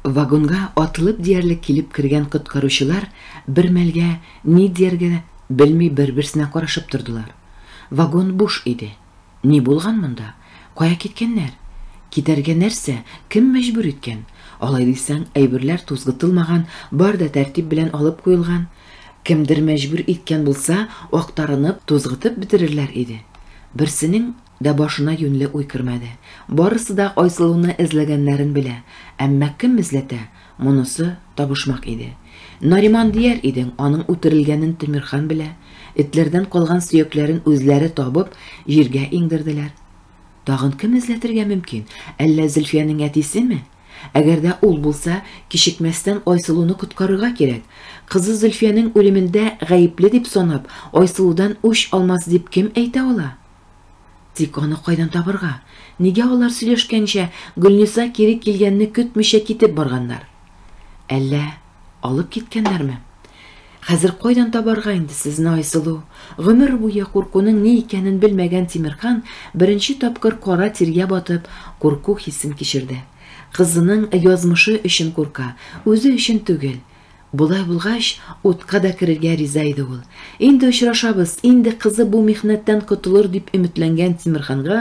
Вагонга атылып диярлек килеп кергән коткаручылар бер мәлгә ни дияргә белми бер-берсенә карашып тордылар. Вагон буш иде. Ни булган монда? Кая киткәннәр? Китәргә нәрсә, кем мәҗбүр иткән? Алай дисәң, әйберләр тузгытылмаган, бар да тәртип белән алып куелган. Кемдер мәҗбүр иткән булса, актарынып, тузгытып бетерерләр иде. Берсенең Дә башына юньле уй кермәде. Барысы да Айсылуны эзләгәннәрен белә, әмма кем эзләтә, монысы табышмак иде. Нариман дияр идең, аның үтерелгәнен Тимерхан белә, этләрдән калган сөякләрен үзләре табып, җиргә иңдерделәр. Тагын кем эзләтергә мөмкин? Әллә Зөлфиянең әтисеме? Әгәр дә ул булса, кичекмәстән Айсылуны коткарырга кирәк. Кызы Зөлфиянең үлемендә гаепле дип санап, Айсылудан үч алмас дип кем әйтә ала? Тик аны кайдан табырга? Нигә алар сөйләшкәнчә Гөлниса кире килгәнне көтмичә китеп барганнар? Әллә алып киткәннәрме? Хәзер кайдан табарга инде сезне, Айсылу? Гомер буе куркуның ни икәнен белмәгән Тимерхан беренче тапкыр кара тиргә батып, курку хисен кичерде. Кызының язмышы өчен курка, үзе өчен түгел. Болай булгач, утка да керергә риза иде ул. Инде очрашабыз, инде кызы бу михнәттән котылыр дип өметләнгән Тимерханга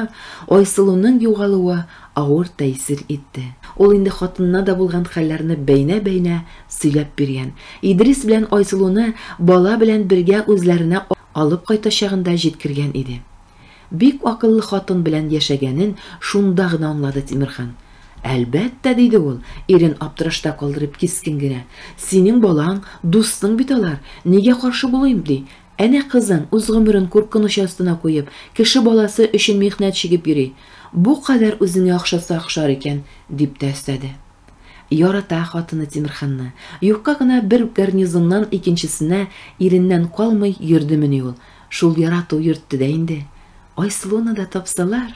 Айсылуның югалуы авыр тәэсир итте. Ул инде хатынына да булган хәлләрне бәйнә-бәйнә сөйләп биргән. Идрис белән Айсылуны бала белән бергә үзләренә алып кайтачагын да җиткергән иде. Бик акыллы хатын белән яшәгәнен шунда гына аңлады Тимерхан. Әлбәттә, диде ул, ирен аптырашта калдырып кискен генә. Синең балаң, дустың бит алар, нигә каршы булыйм, ди. Әнә кызың үз гомерен куркыныч астына куеп, кеше баласы өчен михнәт чигеп йөри. Бу кадәр үзеңә охшаса охшар икән, дип тә өстәде. Ярата хатыны Тимерханны. Юкка гына бер гарнизоннан икенчесенә иреннән калмый йөрдемени ул. Шул ярату йөртте дә инде, Айсылуны да тапсалар!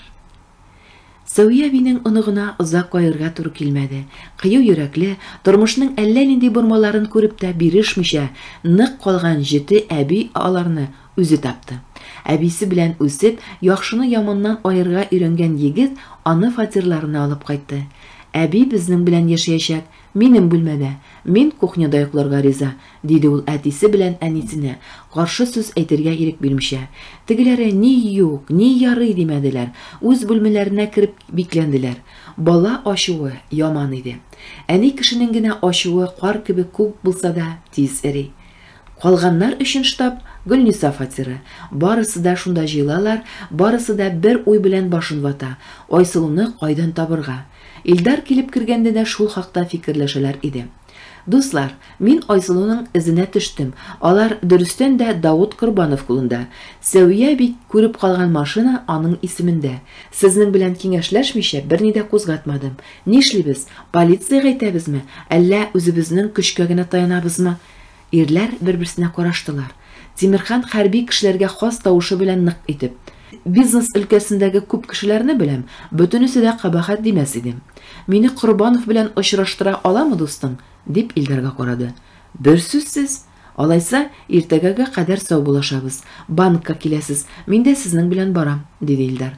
Сәвия әбинең оныгына озак кайгырга туры килмәде. Кыю йөрәкле, тормышның әллә нинди бормаларын күреп тә бирешмичә нык калган җете әби аларны үзе тапты. Әбисе белән үсеп, яхшыны яманнан аерырга өйрәнгән егет аны фатирларына алып кайтты. Әби безнең белән яшәячәк, Минем бүлмәдә, мин кухняда йокларга риза, диде ул әтисе белән әнисенә, каршы сүз әйтергә ирек бирмичә. Тегеләре ни юк, ни ярый димәделәр, үз бүлмәләренә кереп бикләнделәр. Бала ачуы яман иде. Әни кешенең генә ачуы кар кебек күп булса да, тиз эри. Калганнар өчен штаб, Гөлниса фатиры. Барысы да шунда җыелалар, барысы да бер уй белән башын вата, Айсылуны кайдан табырга? Илдар килеп кергәндә дә шул хакта фикерләшәләр иде. Дуслар, мин Айсылуның эзенә төштем, алар дөрестән дә Давыт Корбанов кулында. Сәвия әби күреп калган машина аның исемендә. Сезнең белән киңәшләшмичә берни дә кузгатмадым. Нишлибез, полициягә әйтәбезме, әллә үзебезнең көчкә генә таянабызмы? Ирләр бер-берсенә караштылар. Тимерхан хәрби кешеләргә хас тавышы белән нык итеп. Бизнес өлкәсендәге күп кешеләрне беләм, бөтенесе дә кабахәт димәс иде. Мине Корбанов белән очраштыра аламы дустың? дип Илдарга карады. Берсүзсез! Алайса, иртәгәгә кадәр саубуллашабыз. Банкка киләсез, мин дә сезнең белән барам, диде Илдар.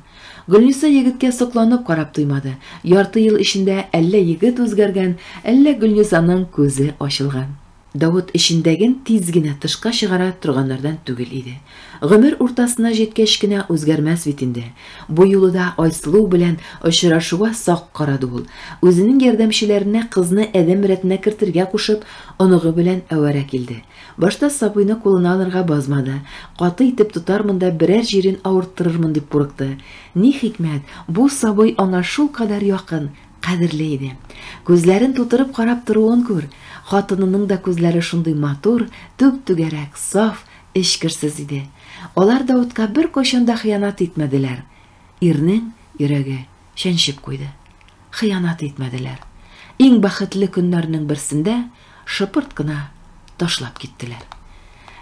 Гөлниса егеткә сокланып карап туймады. Ярты ел эчендә әллә егет үзгәргән, әллә Гөлнисаның күзе ачылган. Давыт эчендәген тиз генә тышка чыгара торганнардан түгел иде. Гомер уртасына җиткәч кенә үзгәрмәс бит инде. Бу юлы да Айсылу белән очрашуга сак карады ул. Үзенең ярдәмчеләренә кызны адәм рәтенә кертергә кушып, оныгы белән әвәрә килде. Башта сабыйны кулына алырга базмады, каты итеп тотармын да берәр җирен авырттырырмын дип курыкты. Ни хикмәт, бу сабый аңа шулкадәр якын, Кадерле иде. Күзләрен тутырып карап торуын күр. Хатынының да күзләре шундый матур, түп-түгәрәк, саф, эчкерсез иде. Алар Даутка беркайчан да хыянат итмәделәр. Ирнең йөрәге чәнчеп куйды. Хыянат итмәделәр. Иң бәхетле көннәрнең берсендә Шыпырт кына ташлап киттеләр.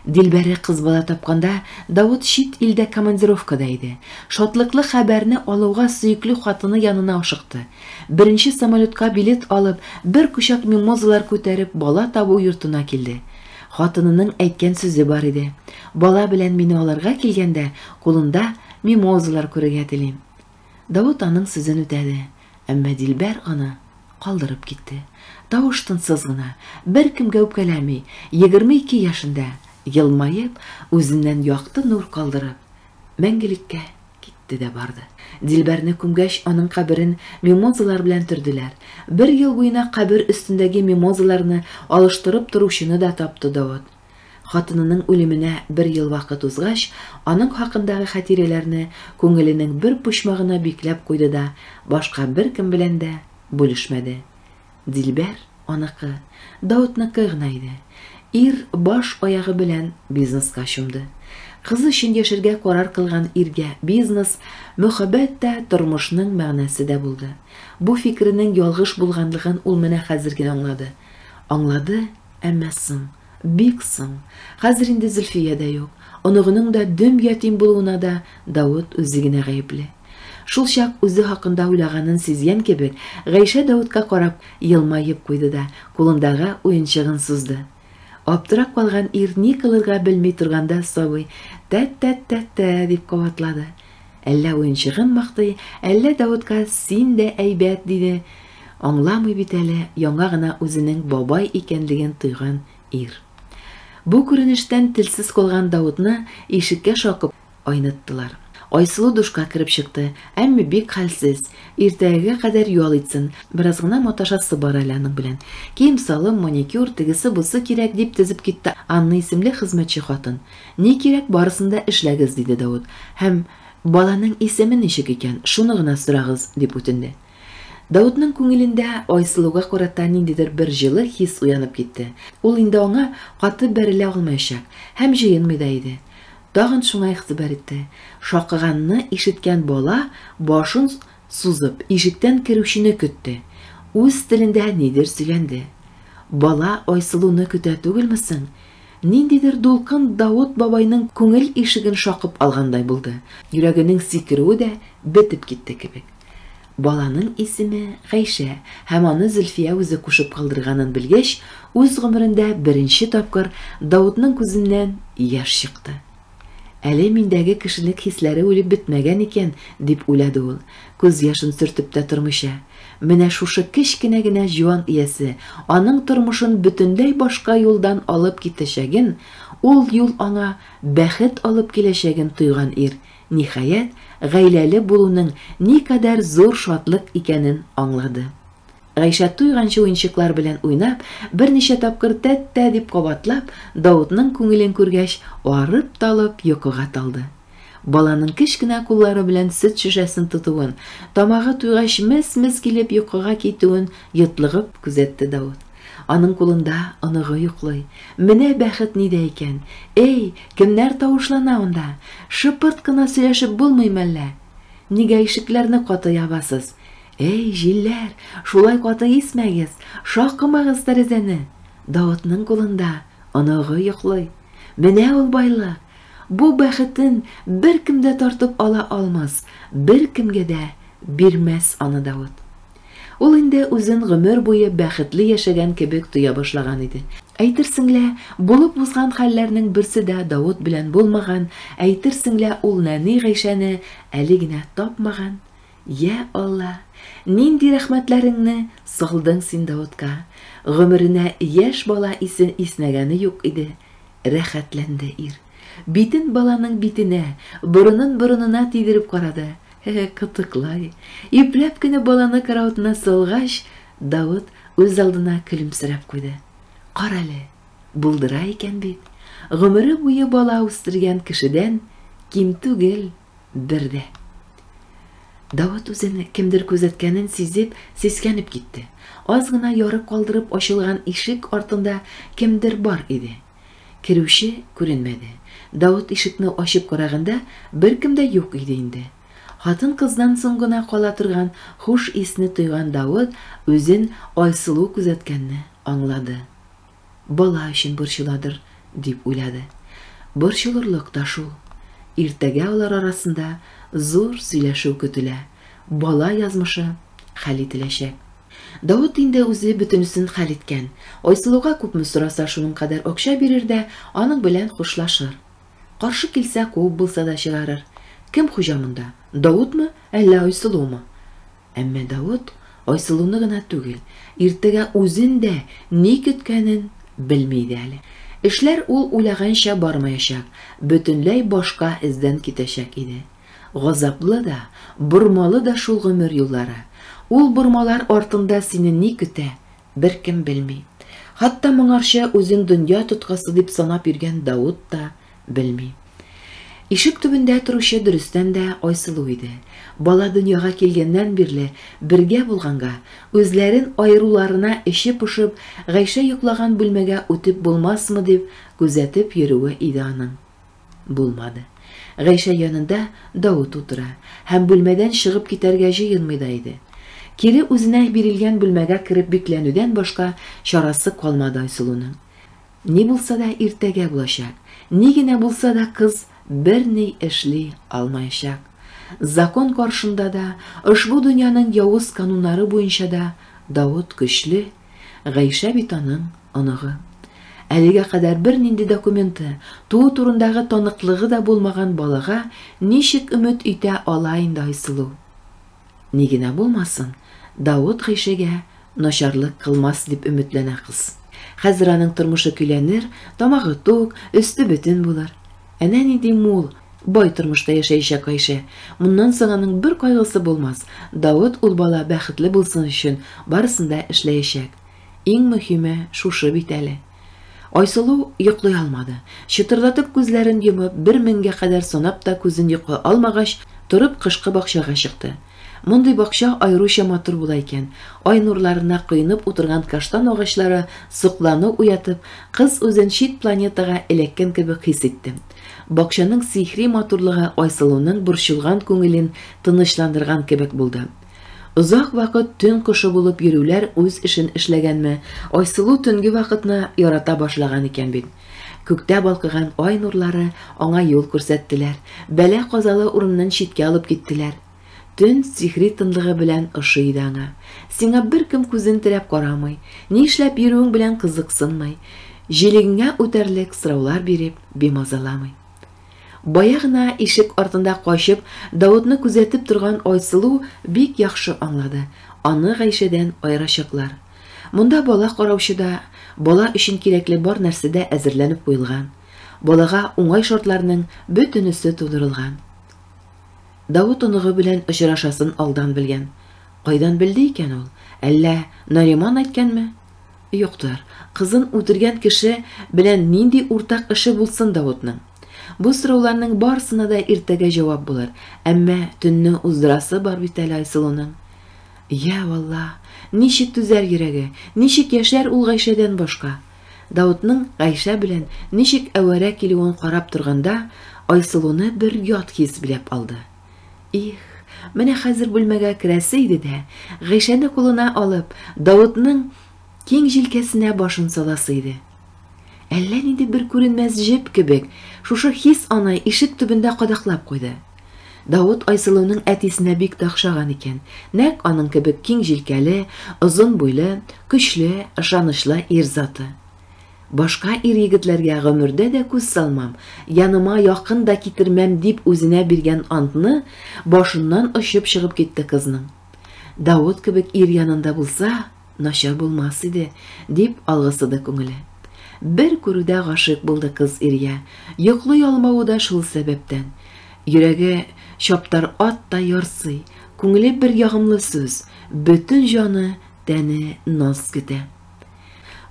Дилбәре кыз бала тапканда Давыт чит илдә командировкада иде. Шатлыклы хәбәрне алуга сөекле хатыны янына ашыкты. Беренче самолетка билет алып, бер кочак мимозалар күтәреп бала табу йортына килде. Хатынының әйткән сүзе бар иде, Бала белән мине алырга килгәндә, кулында мимозалар күрергә телим. Давыт аның сүзен үтәде, әмма Дилбәр аны калдырып китте. Тавыш-тынсыз гына, беркемгә үпкәләми, егерме ике яшендә, елмаеп, үзеннән якты нур калдырып, мәңгелеккә китте дә барды. Дилбәрне күмгәч, аның каберен мимозалар белән төрделәр. Бер ел буена кабер өстендәге мимозаларны алыштырып торучыны да тапты Давыт. Хатынының үлеменә бер ел вакыт узгач, аның хакындагы хәтирәләрне күңеленең бер почмагына бикләп куйды да, башка беркем белән дә бүлешмәде. Дилбәр, аныкы, Даутныкы гына иде. Ир баш-аягы белән бизнеска чумды. Кызы өчен яшәргә карар кылган иргә бизнес, мөхәббәт тә, тормышның мәгънәсе дә булды. Бу фикеренең ялгыш булганлыгын ул менә хәзер генә аңлады. Аңлады Әмма соң, бик соң, хәзер инде Зөлфия дә юк, оныгының да дөм ятим булуына да Давыт үзе генә гаепле. Шулчак үзе хакында уйлаганын сизгән кебек, Гайшә Давытка карап елмаеп куйды да, кулындагы уенчыгын сузды. Аптырап калган ир ни кылырга белми торганда сабый, Тә-тә-тә-тә, дип кабатлады. Әллә уенчыгын мактый, әллә Даутка син дә әйбәт диде, аңламый бит әле яңа гына үзенең бабай икәнлеген тойган ир. Бу күренештән телсез калган Даутны ишеккә шакып айныттылар. Айсылу душка кереп чыкты, әмма бик хәлсез. Иртәгәгә кадәр ял итсен, бераз гына маташасы бар әле аның белән. Кием-салым, маникюр, тегесе-бусы кирәк, дип тезеп китте Анна исемле хезмәтче хатын. Ни кирәк, барысын да эшләгез, диде Давыт һәм, Баланың исеме ничек икән, шуны гына сорагыз, дип үтенде. Давытның күңелендә Айсылуга карата ниндидер бер җылы хис уянып китте. Ул инде аңа каты бәрелә алмаячак һәм җыенмый да иде. Тагын шуңа игътибар итте. Шакыганны ишеткән бала башын сузып, ишектән керүчене көтте. Үз телендә нидер сөйләнде. Бала Айсылуны көтә түгелме соң? Ниндидер дулкын Давыт бабайның күңел ишеген шакып алгандай булды, йөрәгенең сикерүе дә бетеп китте кебек. Баланың исеме, Гайшә, һәм аны Зөлфия үзе кушып калдырганын белгәч, үз гомерендә беренче тапкыр Давытның күзеннән яшь чыкты. Әле миндәге кешенек хисләре үлеп бетмәгән икән, дип уйлады ул, күз яшен сөртеп тә тормыйча. Менә шушы кечкенә генә җуан иясе аның тормышын бөтенләй башка юлдан алып китәчәген, ул юл аңа бәхет алып киләчәген тойган ир, ниһаять, гаиләле булуның никадәр зур шатлык икәнен аңлады. Гайшә туйганчы уенчыклар белән уйнап, берничә тапкыр тәт-тә дип кабатлап, Даутның күңелен күргәч, арып-талып йокыга талды. Баланың кечкенә куллары белән сөт шешәсен тотуын, тамагы туйгач мес-мес килеп йокыга китүен йотлыгып күзәтте Даут. Аның кулында оныгы йоклый. Менә бәхет нидә икән! Эй, кемнәр тавышлана анда? Шыпырт кына сөйләшеп булмый мәллә? Нигә ишекләрне каты ябасыз? Әй, җилләр, шулай каты исмәгез, шакымагыз тәрәзәне! Даутның кулында оныгы йоклый. Менә ул байлык! Бу бәхетен беркем дә тартып ала алмас, беркемгә дә бирмәс аны Даут. Ул инде үзен гомер буе бәхетле яшәгән кебек тоя башлаган иде. Әйтерсең лә, булып узган хәлләрнең берсе дә Даут белән булмаган, әйтерсең лә, ул нәни Гайшәне әле генә тапмаган, Йә Алла, нинди рәхмәтләреңне салдың син Даутка, гомеренә яшь бала исе иснәгәне юк иде, рәхәтләнде ир. Битен баланың битенә, борынын борынына тидереп карады, һе-һе, кытыклай. Ипләп кенә баланы караватына салгач, Даут үзалдына көлемсерәп куйды. Карале, булдыра икән бит. Гомере буе бала үстергән кешедән ким түгел Бер дә. Давыт үзен кемдер күзәткәнен сизеп, сискәнеп китте. Аз гына ярып калдырып ачылган ишек артында кемдер бар иде. Керүче күренмәде. Давыт ишекне ачып караганда, беркем дә юк иде инде. Хатын-кыздан соң гына кала торган хуш исне тойган Давыт үзен Айсылу күзәткәнне аңлады. Бала өчен борчыладыр, дип уйлады. Борчылырлык та шул. Иртәгә алар арасында зур сөйләшү көтелә, бала язмышы хәл ителәчәк. Давыт инде үзе бөтенесен хәл иткән. Айсылуга күпме сораса, шуның кадәр акча бирер дә аның белән хушлашыр. Каршы килсә, куып булса да чыгарыр. Кем хуҗа монда, Давытмы, әллә Айсылумы? Әмма Давыт Айсылуны гына түгел, иртәгә үзен дә ни көткәнен белми иде әле. Эшләр ул уйлаганча бармаячак, бөтенләй башка эздән китәчәк иде. Газаплы да, бормалы да шул гомер юллары. Ул бормалар артында сине ни көтә, Беркем белми. Хатта моңарчы үзен дөнья тоткасы дип санап йөргән Даут та белми. Ишек төбендә торучы дөрестән дә Айсылу иде. Бала дөньяга килгәннән бирле бергә булганга, үзләрен аеруларына эче пошып, Гайшә йоклаган бүлмәгә үтеп булмасмы дип күзәтеп йөрүе иде аның. Булмады. Гайшә янында Даут утыра һәм бүлмәдән чыгып китәргә җыенмый да иде. Кире үзенә бирелгән бүлмәгә кереп бикләнүдән башка чарасы калмады Айсылуның. Ни булса да иртәгә булачак. Ни генә булса да кыз берни эшли алмаячак. Закон каршында да, ошбу дөньяның явыз кануннары буенча да Даут көчле, Гайшә бит аның оныгы. Әлегә кадәр бернинди документы, туу турындагы таныклыгы да булмаган балага ничек өмет итә ала инде Айсылу? Ни генә булмасын, Давыт Гайшәгә начарлык кылмас дип өметләнә кыз. Хәзер аның тормышы көйләнер, тамагы тук, өсте бөтен булыр. Әнә нинди мул, бай тормышта яшәячәк Гайшә. Моннан соң аның бер кайгысы булмас. Давыт ул бала бәхетле булсын өчен барысын да эшләячәк. Иң мөһиме шушы бит әле. Айсылу йоклый алмады. Чытырдатып күзләрен йомып, бер меңгә кадәр санап та күзен йока алмагач, торып кышкы бакчага чыкты. Мондый бакча аеруча матур була икән. Ай нурларына коенып утырган каштан агачлары соклану уятып, кыз үзен чит планетага эләккән кебек хис итте. Бакчаның сихри матурлыгы Айсылуның борчылган күңелен тынычландырган кебек булды. Озак вакыт төн кошы булып йөрүләр үз эшен эшләгәнме, Айсылу төнге вакытны ярата башлаган икән бит. Күктә балкыган ай нурлары аңа юл күрсәттеләр, бәла-казалы урыннан читкә алып киттеләр. Төн сихри тынлыгы белән ошый иде аңа. Сиңа беркем күзен терәп карамый, ни эшләп йөрүең белән кызыксынмый, җилегеңә үтәрлек сораулар биреп, бимазаламый. Бая гына ишек артында качып, Даутны күзәтеп торган Айсылу бик яхшы аңлады, аны Гайшәдән аерачаклар. Монда бала караучы да, бала өчен кирәкле бар нәрсә дә әзерләнеп куелган, балага уңай шартларның бөтенесе тудырылган. Давыт оныгы белән очрашасын алдан белгән. Кайдан белде икән ул? Әллә Нариман әйткәнме? Юктыр, кызын үтергән кеше белән нинди уртак эше булсын Давытның? Бу сорауларның барысына да иртәгә җавап булыр, әмма төнне уздырасы бар бит әле Айсылуның. Йә, валла, ничек түзәр йөрәге, ничек яшәр ул Гайшәдән башка? Даутның Гайшә белән ничек әвәрә килүен карап торганда, Айсылуны бер ят хис биләп алды. Их, менә хәзер бүлмәгә керәсе иде дә, Гайшәне кулына алып, Даутның киң җилкәсенә башын саласы иде. Әллә нинди бер күренмәс җеп кебек, шушы хис аны ишек төбендә кадаклап куйды. Давыт Айсылуның әтисенә бик тә охшаган икән. Нәкъ аның кебек киң җилкәле, озын буйлы, көчле, ышанычлы ир заты. Башка ир-егетләргә гомердә дә күз салмам, яныма якын да китермәм дип үзенә биргән антны башыннан очып чыгып китте кызның. Давыт кебек ир янында булса, Начар булмас иде, дип алгысыды күңеле. Бер күрүдә гашыйк булды кыз иргә, йоклый алмавы да шул сәбәптән. Йөрәге чаптар ат та ярсый, күңеле бер ягымлы сүз, бөтен җаны, тәне наз көтә.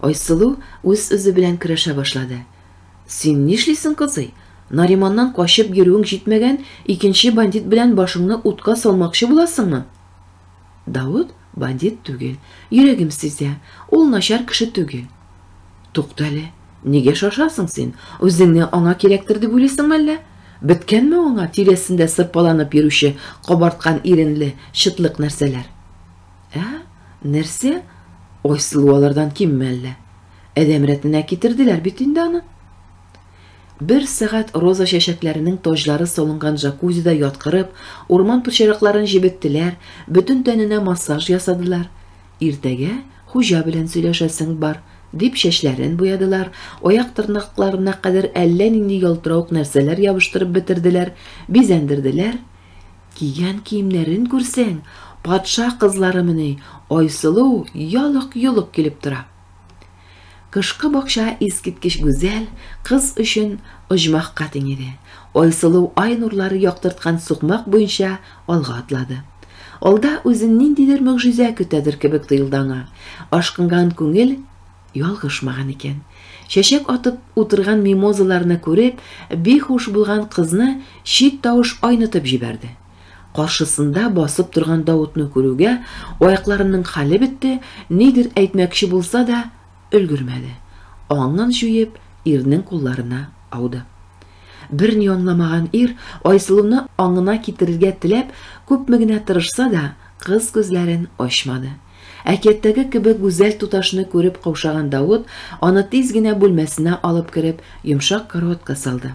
Айсылу үз-үзе белән көрәшә башлады. Син нишлисең, кызый? Нариманнан качып йөрүең җитмәгән, икенче бандит белән башыңны утка салмакчы буласыңмы? Давыт Бандит түгел, йөрәгем сизә, ул начар кеше түгел. Туктале, нигә шашасың син? Үзеңне аңа кирәктер дип уйлыйсың мәллә? Беткәнме аңа тирәсендә сырпаланып йөрүче кабарткан иренле чытлык нәрсәләр? Ә, нәрсә? Айсылу алардан кимме әллә? Адәм рәтенә китерделәр бит инде аны. Бер сәгать роза чәчәкләренең таҗлары салынган джакузида яткырып, урман пычракларын җебеттеләр, бөтен тәненә массаж ясадылар. Иртәгә хуҗа белән сөйләшәсең бар, дип чәчләрен буядылар, аяк-тырнакларына кадәр әллә нинди ялтыравык нәрсәләр ябыштырып бетерделәр, бизәндерделәр. Кигән киемнәрен күрсәң, патша кызларымыни, Айсылу ялык-йолык килеп тора. Кышкы бакча искиткеч гүзәл, кыз өчен оҗмахка тиң иде. Айсылу ай нурлары яктырткан сукмак буенча алга атлады. Алда үзен ниндидер могҗиза көтәдер кебек тоелды аңа. Ашкынган күңел ялгышмаган икән. Чәчәк атып утырган мимозаларны күреп, бихуш булган кызны чит тавыш айнытып җибәрде. Каршысында басып торган Даутны күрүгә, аякларының хәле бетте, нидер әйтмәкче булса да, өлгермәде. Аңын җуеп, ирнең кулларына ауды. Берни аңламаган ир, Айсылуны аңына китерергә теләп, күпме генә тырышса да, кыз күзләрен ачмады. Әкияттәге кебек гүзәл туташны күреп каушаган Даут аны тиз генә бүлмәсенә алып кереп, йомшак караватка салды.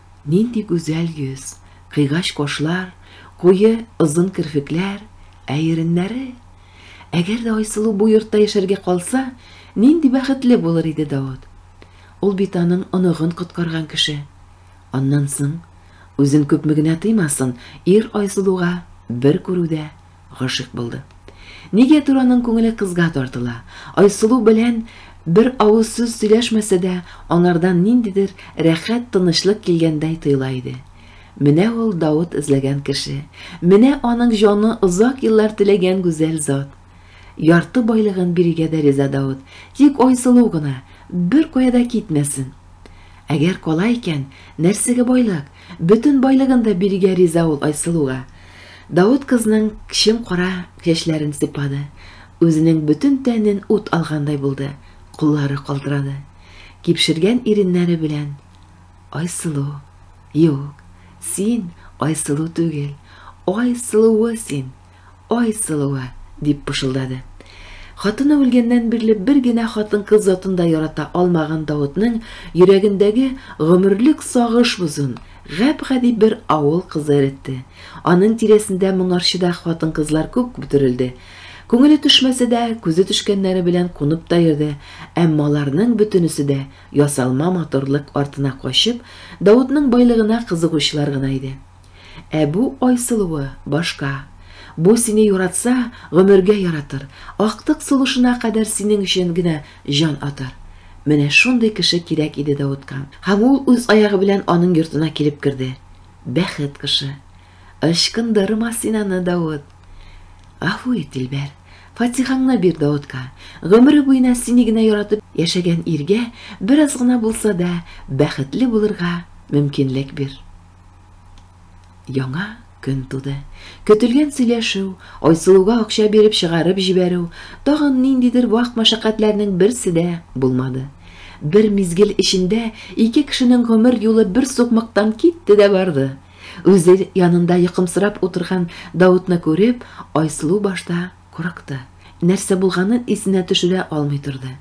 Нинди гүзәл йөз, кыйгач кашлар, куе, озын керфекләр, ә иреннәре! Әгәр дә Айсылу бу йортта яшәргә калса, нинди бәхетле булыр иде Даут! Ул бит аның оныгын коткарган кеше. Аннан соң, үзен күпме генә тыймасын, ир Айсылуга бер күрүдә Гашыйк булды. Нигәдер аның күңеле кызга тартыла. Айсылу белән бер авыз сүз сөйләшмәсә дә, анардан ниндидер рәхәт тынычлык килгәндәй тоела иде. Менә ул Давыт эзләгән кеше. Менә аның җаны озак еллар теләгән гүзәл зат. Ярты байлыгын бирергә дә риза Давыт. Тик Айсылу гына бер кая да китмәсен. Әгәр кала икән, нәрсәгә байлык? Бөтен байлыгын да бирергә риза ул Айсылуга. Давыт кызның кчем кара чәчләрен сыйпады. Үзенең бөтен тәнен ут алгандай булды, куллары калтырады. Кипшергән иреннәре белән, Айсылу, юк, син Айсылу түгел, Ай сылуы син, Ай сылуы, дип пышылдады. Хатыны үлгәннән бирле бер генә хатын-кыз затын да ярата алмаган Давытның йөрәгендәге гомерлек сагыш бозын Гап-гади бер авыл кызы эретте. Аның тирәсендә моңарчы да хатын-кызлар күп бөтерелде. Күңеле төшмәсә дә, күзе төшкәннәре белән кунып та йөрде, әмма аларның бөтенесе дә, ясалма матурлык артына качып, Даутның байлыгына кызыгучылар гына иде. Ә бу Айсылуы, башка. Бу сине яратса, гомергә яратыр, актык сулышына кадәр синең өчен генә Җан атар. Менә шундый кеше кирәк иде Давытка. Һәм ул үз аягы белән аның йортына килеп керде. Бәхет кошы. Ычкындырма син аны, Давыт. Гафу ит, Дилбәр. Фатихаңны бир Давытка. Гомере буена сине генә яратып яшәгән иргә бераз гына булса да бәхетле булырга мөмкинлек бир. Яңа көн туды. Көтелгән сөйләшү, Айсылуга акча биреп чыгарып җибәрү, тагын ниндидер вак мәшәкатьләрнең берсе дә булмады. Бер мизгел эчендә ике кешенең гомер юлы бер сукмактан китте дә барды. Үзе янында йокымсырап утырган Даутны күреп, Айсылу башта курыкты. Нәрсә булганын исенә төшерә алмый торды.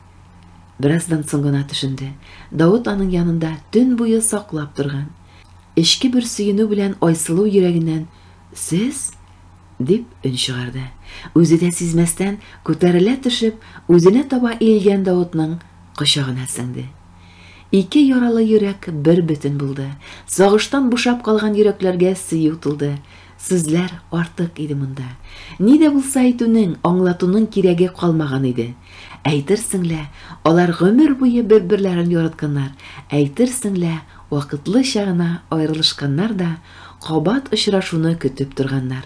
Бераздан соң гына төшенде, Даут аның янында төн буе саклап торган. Эчке бер сөенү белән Айсылу йөрәгеннән Сез? дип өн чыгарды. Үзе дә сизмәстән, күтәрелә төшеп, үзенә таба иелгән Даутның кочагына сеңде. Ике яралы йөрәк бер бөтен булды. Сагыштан бушап калган йөрәкләргә сөю тулды. Сүзләр артык иде монда. Ни дә булса әйтүнең, аңлатуның кирәге калмаган иде. Әйтерсең лә, алар гомер буе бер-берләрен яратканнар, әйтерсең лә, Вакытлыча гына аерылышканнар да кабат очрашуны көтеп торганнар.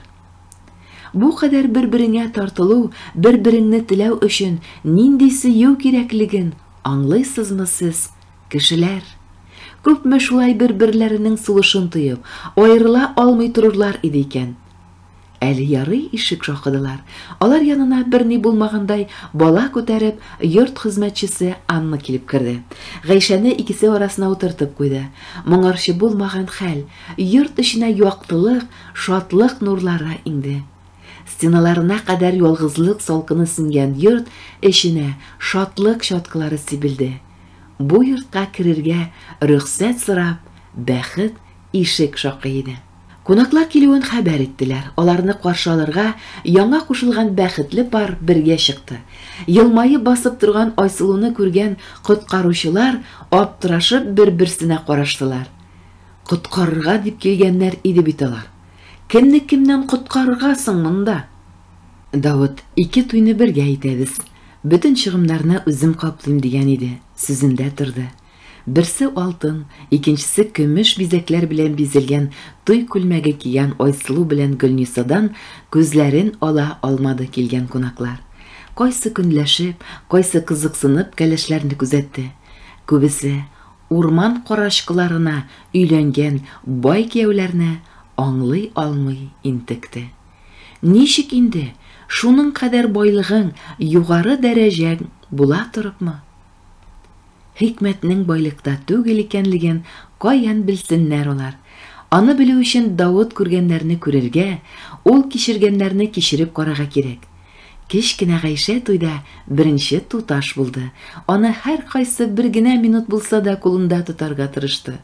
Бу кадәр бер-береңә тартылу, бер-береңне теләү өчен нинди сөю кирәклеген аңлыйсызмы сез, кешеләр? Күпме шулай бер-берләренең сулышын тоеп, аерыла алмый торырлар иде икән? Әле ярый ишек шакыдылар. Алар янына берни булмагандай бала күтәреп йорт хезмәтчесе Анна килеп керде. Гайшәне икесе арасына утыртып куйды. Моңарчы булмаган хәл, йорт эченә яктылык, шатлык нурлары иңде. Стеналарына кадәр ялгызлык салкыны сеңгән йорт эченә шатлык чаткылары сибелде. Бу йортка керергә рөхсәт сорап, бәхет ишек шакый иде. Кунаклар килүен хәбәр иттеләр. Аларны каршы алырга яңа кушылган бәхетле пар бергә чыкты. Елмаеп басып торган Айсылуны күргән коткаручылар аптырашып бер-берсенә караштылар. Коткарырга дип килгәннәр иде бит алар. Кемне кемнән коткарырга соң монда? Давыт, ике туйны бергә итәбез. Бөтен чыгымнарны үзем каплыйм, дигән иде, сүзендә торды. Берсе алтын, икенчесе көмеш бизәкләр белән бизәлгән туй күлмәге кигән Айсылу белән Гөлнисадан күзләрен ала алмады килгән кунаклар. Кайсы көнләшеп, кайсы кызыксынып кәләшләрне күзәтте. Күбесе, урман карачкыларына өйләнгән бай кияүләрне аңлый алмый интекте. Ничек инде, шуның кадәр байлыгың, югары дәрәҗәң була торыпмы? Хикмәтнең байлыкта түгел икәнлеген каян белсеннәр алар? Аны белү өчен Давыт күргәннәрне күрергә, ул кичергәннәрне кичереп карарга кирәк. Кечкенә Гайшә туйда беренче туташ булды, аны һәркайсы бер генә минут булса да кулында тотарга тырышты.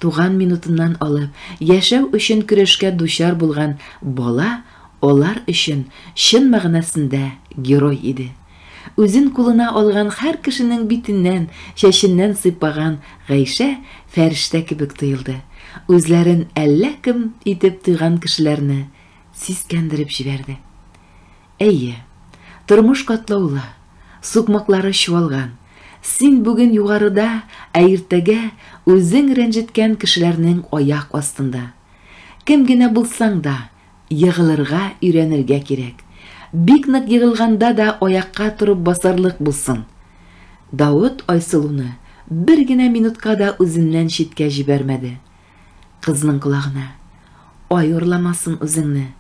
Туган минутыннан алып, яшәү өчен көрәшкә дучар булган бала алар өчен чын мәгънәсендә герой иде. Үзен кулына алган һәр кешенең битеннән, чәченнән сыйпаган Гайшә фәрештә кебек тоелды, үзләрен әллә кем итеп тойган кешеләрне сискәндереп җибәрде. Әйе, тормыш катлаулы, сукмаклары чуалган, син бүген югарыда, ә иртәгә үзең рәнҗеткән кешеләрнең аяк астында. Кем генә булсаң да, Егылырга өйрәнергә кирәк. Бик нык егылганда да аякка торып басарлык булсын. Давыт Айсылуны бер генә минутка да үзеннән читкә җибәрмәде. Кызның колагына, Ай урламасын үзеңне.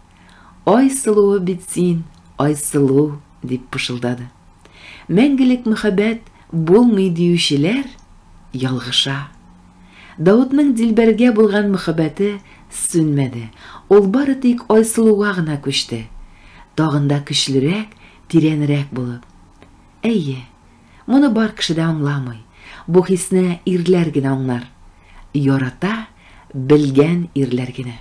Ай сылуы бит син, Айсылу, дип пышылдады. Мәңгелек мөхәббәт булмый диючеләр ялгыша. Даутның Дилбәргә булган мөхәббәте сүнмәде, ул бары тик Айсылуга гына күчте, тагын да көчлерәк, тирәнрәк булып. Әйе, моны бар кеше дә аңламый, бу хисне ирләр генә аңлар. Ярата белгән ирләр генә.